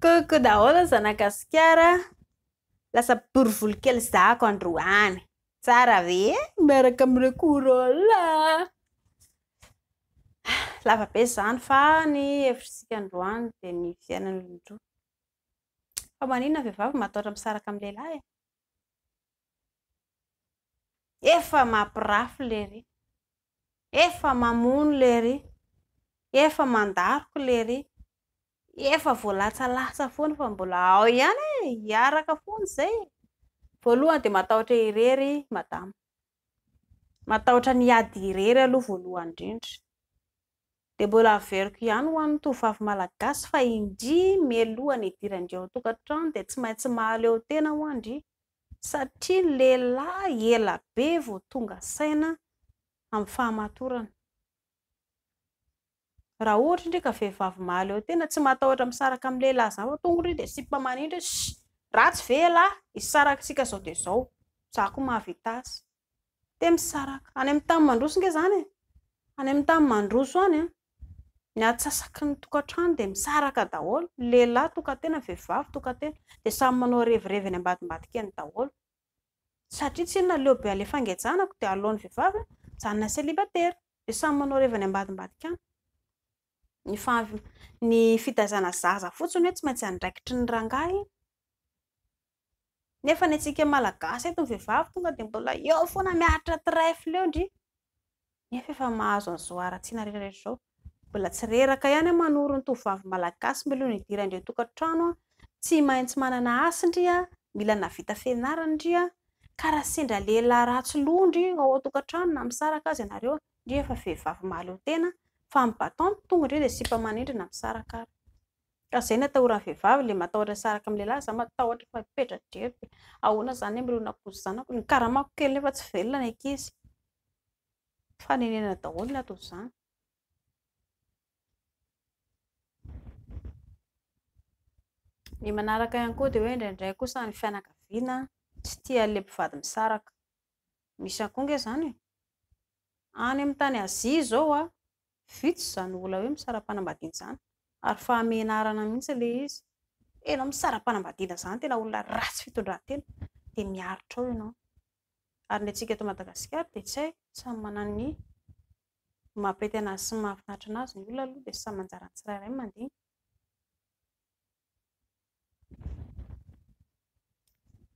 Coucou daholo zanagasikara lasa borivoly kely zako androany tsara ve miaraka amin'ireo korola lava be zany fa ny hevitsika androany dia ny fiainan'olon-droa fa manina vehivavy matahotra misaraka amin'ny lehilahy e? Efa mampirafy lery. Efa mamono lery. Efa mandaroka lery. Efa voalatsalasa foana fa mbola ao ihany e, hiaraka foana izay e. Voalohany dia matahotra irery madama. Matahotra ny ady irery aloha voalohany indrindra. dia mbola averiko ihany ho an'ny tovovavy malagasy fa indria mialoha ny hidiran-dry ao an-tokantrano dia tsy maintsy mahaleo tena ho'a ndry satria ny lehilahy ela be vao tonga saina amin'ny fahamatorana. Raha ohatra ndry ka vehivavy mahaleo tena tsy matahotra misaraka amin'ny lehilahy izany fa tonga ndry dia sipa manindry hoe shh! Ratsy ve ialahy? Hisaraka isika izao dia izao. Izaho koa mahavita azy. Dia misaraka. Any amin'ny tany mandroso ange izany e! Any amin'ny tany mandroso any an, ny atsasaky ny tokantrano dia misaraka daholo, ny lehilahy tokan-tena, ny vehivavy tokan-tena, dia samy manao revirevy eny ambadimbadika eny daholo. Satria tsy inona, aleo be alefa angejana dia aloan'ny vehivavy hijanona célibataire. Dia samy manao revy any ambadimbadika any. Ny fahav- ny fitaizana zaza fotsiny hoe tsy maintsy andraikitry ny rangahy. Nefa ny antsika Malagasy eto ny vehivavy tonga dia mbola eo foana miaritra trèfle eo ndry. Nefa efa mahazo an'i Zoara Ratsina retraretra izao. Mbola tsy reraka ihany an manoro ny tovovavy Malagasy mialoha ny hidiran-dry an-tokantrano an. Tsy maintsy manana asa ndry an, mila navita fianarana ndry an. Ka raha sendra lehilahy ratsy loha ndry ao an-tokantrano na misaraka aza ianareo an, ndry efa vehivavy mahaleo tena fa ny bâton no tonga ndry dia sipa manindry na misaraka ary. Raha zay no atahoran'ny vehivavy le matahotra tsy araka amin'ny lehilahy, za matahotra fa petra-drery dia ahoana zany ny mirona akoho sy zanako, ny karamako kely nefa tsy velona ny ankizy, fanenenana daholo ny ato izany. Ny manaraka ihany koa dia hoe indraindray kosa ny fianakaviana tsy tia an'ilay mpivady misaraka. Misy ihany koa ange izany e! Any amin'ny tany Azia izao an, Vitsy izany olona hoe misara-panambadiana izany ary fahamenarana mihitsy ilay izy. Hoe ianao misara-panambadiana izany tena olona ratsy fitondran-tena dia miaritra ao ianao. Ary ny antsika eto Madagasikara dia tsy hay, samy manana ny maha-pety an'azy sy ny mahafinaritra an'azy ny olona aloha dia samy anjaran'ny tsirairay ny mandinika.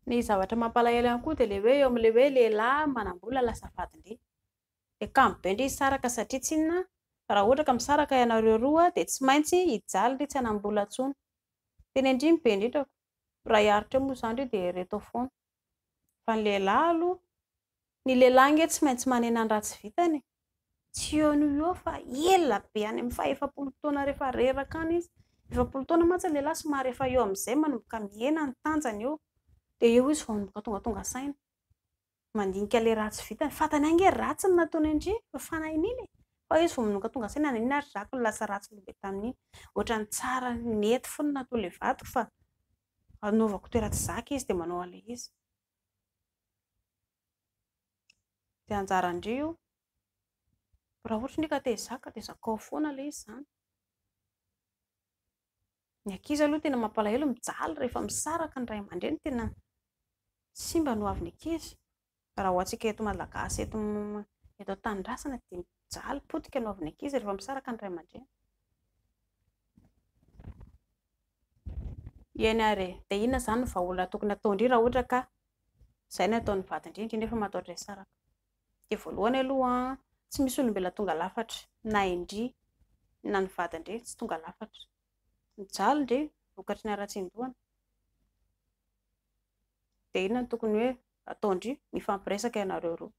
Ny zavatra mampalahelo ihany koa dia ilay hoe eo amin'ilay hoe lehilahy manam-bola lasa vadin-dehilahy. Ny ankamarobe indrisy saraka satria tsinona raha ohatra ka misaraka ianareo roa dia tsy maintsy hijaly ry tsy hanam-bola intsony. Tena indrimo be indrindra. Raha hiaritra eo moa izany ry dia ireto ao foana. Fa ny lehilahy aloha. Ny lehilahy ange tsy maintsy manena ny ratsy vitany e. Tsy eo no eo fa ela be any amin'ny fahefapolo taona rehefa reraka any izy. Efapolo taona mantsy ny lehilahy somary efa eo amin'izay manomboka mihena ny tanjany eo. Dia eo izy vao manomboka tonga tonga saina. Mandinika ilay ratsy vitany. Fantany ihany ange ratsy ny nataony andry e. Fa fanahin'iny e. Fa eo izy vao manomboka tonga saina na inona ary ratsy no lasa ratsy lehibe tamin'iny. Ohatran'ny tsara, nety fony natoa ilay vadiko fa Anaovako toeran tsy zaka izy dia manao an'ilay izy. Dia anjaran-dry io. Raha ohatra ndry ka te hizaka dia zakao foana ilay izy izany. Ny ankizy aloha tena mampalahelo mijaly rehefa misaraka ny ray aman-dreny tena simba ny ho avin'ny ankizy. Raha ho antsika eto Malagasy eto eto an-tanindrazana dia mijaly potika no avy ny ankizy rehefa misaraka ny ray aman-dreny. Eny ary e, dia inona izany ny vahaolana tokony ataon-dry raha ohatra ka izay no ataon'ny vadin-dry, indrindra efa mataotra hisaraka? Dia voalohany aloha tsy misy olombelona tonga lafatra, na indry na ny vadin-dry tsy tonga lafatra. Mijaly ndry vokatry ny haratsian-dohany. Dia inona no tokony hoe Ataondry mifampiresaka ianareo roa.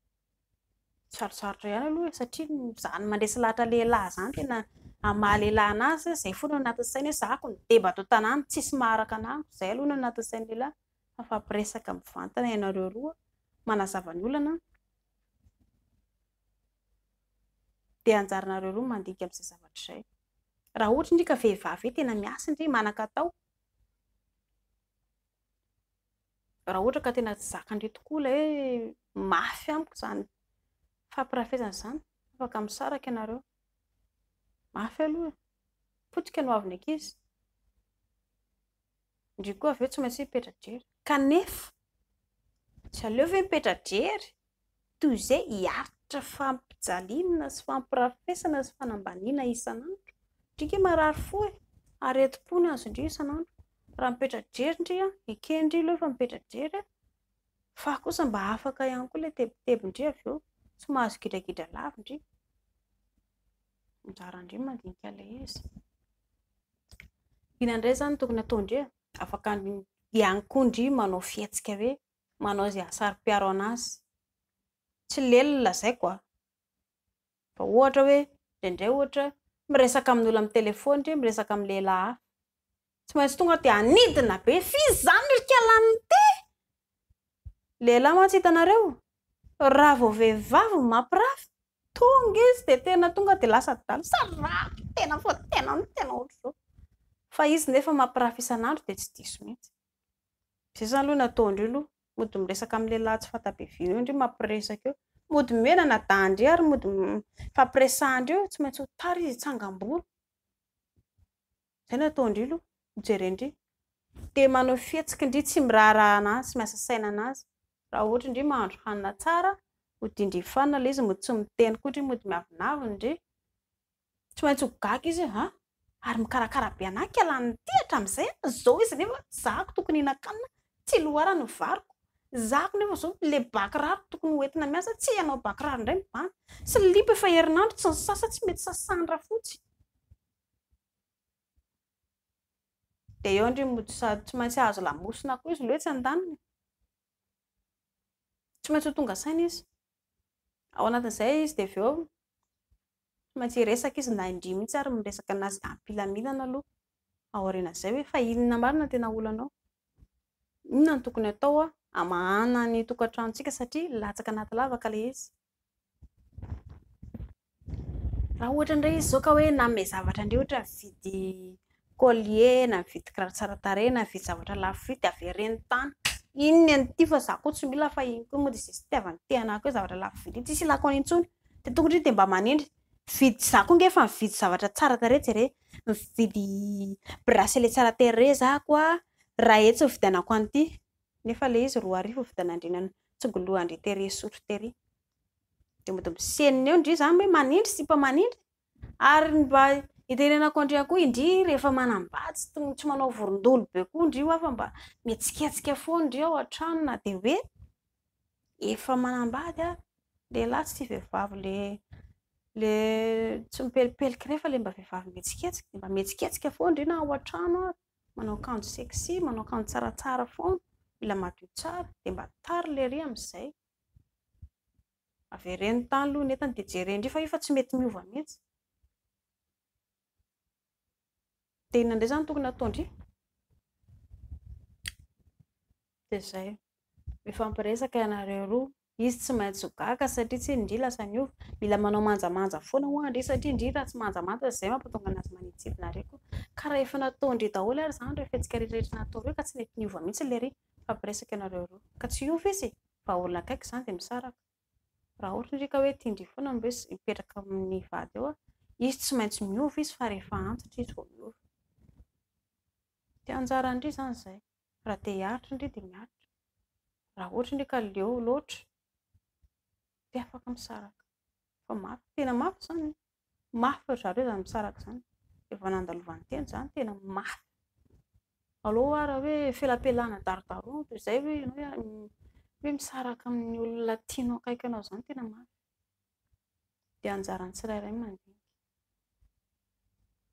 Sarotsarotra ihany aloha e, satria izany mandresy lahatra lehilahy izany tena hamaha lehilahy anazy, izay foana no anatin'ny sainy hoe zahako ny deba ato an-tanàna, tsisy maharaka ana amiko, izay aloha no anatin'ny sain'ny lehilahy. Mifampiresaka mivantana ianareo roa, manazava ny olana, dia anjaranareo roa ny mandinika amin'izay zavatra izay. Raha ohatra indrika vehivavy hoe tena miasa indry, manan-katao, raha ohatra ka tena tsy zakandreo tokoa ilay hoe mafy amiko izany fampirafesana izany, afaka misaraka ianareo. Mafy aloha e. Potika no hoavin'ny ankizy. Indreo koa avy eo tsy maintsy mipetra-drery. Kanefa, tsy aleo ve mipetra-drery toy izay hiaritra fampijaliana sy fampirafesana sy fanambaniana isan'andro. Ndrika marary fo e! Aretim-po ny azon-dry isan'andro. Raha mipetra-drery ndry an, eken-dry aloha efa mipetra-drery an, fa kosa mba afaka ihany koa ilay tebitebin-dry avy eo, tsy mahazo gidragidra lava ndry. Anjaran-dry mandinika ilay izy. Inona indray izany no tokony hataon-dry e? Afaka ihany koa ndry manao fihetsika hoe manao izay hahasaro-piaro an'azy. Tsy lely ny lazaiko a! Fa ohatra hoe, indraindray ohatra, miresaka amin'olona amin'ny telefaony ry, miresaka amin'ny lehilahy hafa. Tsy maintsy tonga dia hanidina be. F'iza izany ry Kalanite? Lehilahy mantsy hitanareo, raha vao vehivavy no mampirafy, tonga izy dia tena tonga dia lasa adala. Sarababaa! Tena fa tena, tena ohatr'izao. Fa izy nefa mampirafy isan'andro dia tsy diso mihitsy. Zay zany aloha ny ataondreo aloha, mody miresaka amin'ny lehilahy tsy fanta-be vina eo ndry mampiresaka eo, mody mihenana dahy ndry ary mody mifampiresahan-dreo eo, tsy maintsy ho tara izy hitsangam-bolo, zay no ataondreo aloha, no jeren-dry, te manao fihetsiky ndry tsy miraharaha an'azy, tsy miasa saina an'azy, raha ohatra ndry mahandro hanina tsara, hodian-dry fanina ilay izy, mody tsy miteny koa ndry, mody miavonavona ndry, Tsy maintsy ho gaga izy hoe an! ary mikarakara be anah ka lany ity hatramin'izay an! zao izy nefa zahako tokony hihinan-kanina tsy loharano ny variko, zahako nefa zao le ba kiraro tokony ho entina miasa tsy hanao ba kiraro indray mibahana, slip efa herinandro tsy nisasa tsy mety sasahan'ny rafotsy. Dia eo ndry mody sady tsy maintsy hahazo lamosina koa izy lo etsy an-daniny. Tsy maintsy ho tonga saina izy. Ao anatin'izay izy dia avy eo Mba tsy hiresaka izy na indry mihitsy ary miresaka anazy ampilaminana aloha aorianan'izay hoe fa inona marina no tena olanao? Inona no tokony atao hamahana ny tokantranontsika satria latsaka anaty lavaka ilay izy. Raha ohatra indray izy izao ka hoe nanome zavatra an'ireo ohatra mividy Collier na mividy kiraro tsara tarehy na mividy zavatra lafo vidy avereno tany iny ny an'ity fa za ko tsy mila fa iny ko mody izay fitiavany te anah ko zavatra lafo vidy iny tsisy ilako an'iny tsony de tokony ndry de mba manendry mividy za ko nge fa mividy zavatra tsara tarehy jere mividy bracelet tsara tarehy za ko a raha etsy ny vidianako an'ity nefa le izy roa arivo vidianandrina no tsongolohan-dry tery sotra tery de mody misenina eo ndry za hoe manendry sipa manendry Ary ny mba itenenako an-dry akoho indry rehefa manambady tsy tokony tsy manao vorondolo be koa indry hoa fa mba mihetsiketsika foana indry ao an-trano na dia hoe efa manambady ary lehilahy sy vehivavy le le tsy mipelipelika ireny fa le mba vehivavy mihetsiketsika dia mba mihetsiketsika foana indry na ao an-trano ary manao akanjo sexy manao akanjo tsaratsara foana mila madio tsara dia mba tara lery amin'izay Avereno tany aloha ny entany dia jereo indray fa io fa tsy mety miova mihitsy. Dia inona indray izany no tokony hataon-dry? Dia izay. Mifampiresaka ianareo roa. Izy tsy maintsy ho gaga satria tsia ndry lasa niova. Mila manao manjamanja foana ho'a ndry satria ndry raha tsy manjamanja dia izay mampatonga an'azy manidintsidina ary koa. Ka raha efa nataon-dry daholo ary izany ireo fihetsika rehetra nataon-dry ka tsy mety niova mihitsy ilay ry. Mifampiresaka ianareo roa. Ka tsy hiova izy e! Raha olona akaiky izany dia misaraka. Raha ohatra indray ka hoe tian-dry foana ny hoe hipetraka amin'ny vady eo, izy tsy maintsy miova izy fa rehefa antitra izy vao miova. Dia anjaran-dry izany izay. Raha te hiaritra indry dia miaritra. Raha ohatra indry ka leo loatra dia afaka misaraka. Fa mafy, tena mafy izany. Mafy ry zareo izany misaraka izany. Dia vao nandalovan'ny teny izany, tena mafy. Alou ary hoe felapelana darodaroana toy izay hoe ianao hoe misaraka amin'ny olona tianao akaiky anao izany, tena mafy. Dia anjaran'ny tsirairay ny mandinika.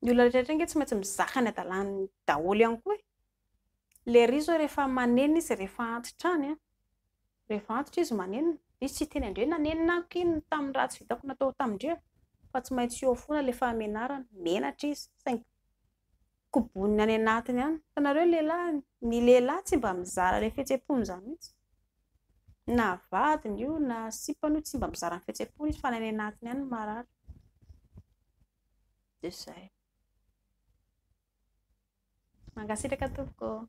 Ny olona rehetra ange tsy maintsy mizaka ny hadalany daholo ihany koa e. Lery izao rehefa maneno izy, rehefa antitra any an! Rehefa antitra izy manenina. Izy tsy hiteny andre nanenina ahy ko inona tamin'ny ratsy vitako natao tamindria fa tsy maintsy eo fona le fahamenarana. Menatra izy saingy koboniny any anatiny any. Hitanareo lehilahy ny lehilahy tsy mba mizara le fihetsempony zany mihitsy. Na vadiny io na sipany io tsy mba mizara ny fihetsempony izy fa any anatiny any marary. Dia zay. Mankasitraka tompoko.